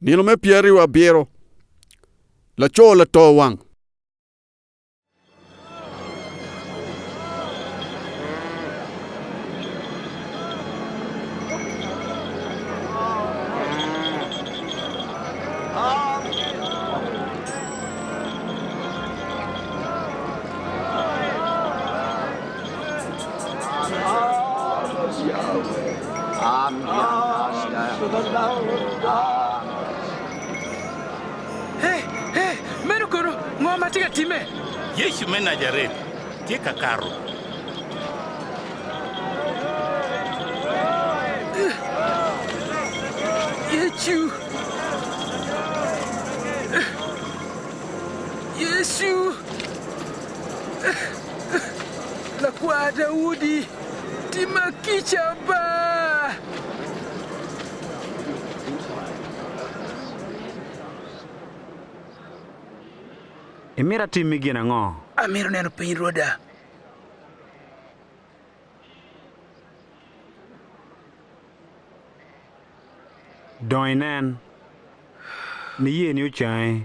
Nino me pyeraryo abiro, laco lato wang. Meno kono ngo ma tye ka timme? Yecu me Najaret tye ka kato. Lakwar Daudi, timma kica ba! Imito atimmi gin ango? Amito neno piny Rwoda. Dong inen. Niyeni ocangi.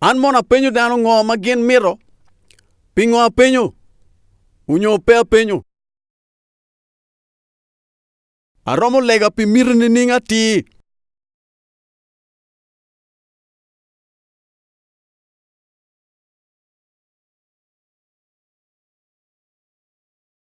An mono apenyo dano ngo ma gin mito? Pingo apenyo? Onyo pe apenyo? Aromo lega pi miti nining atir?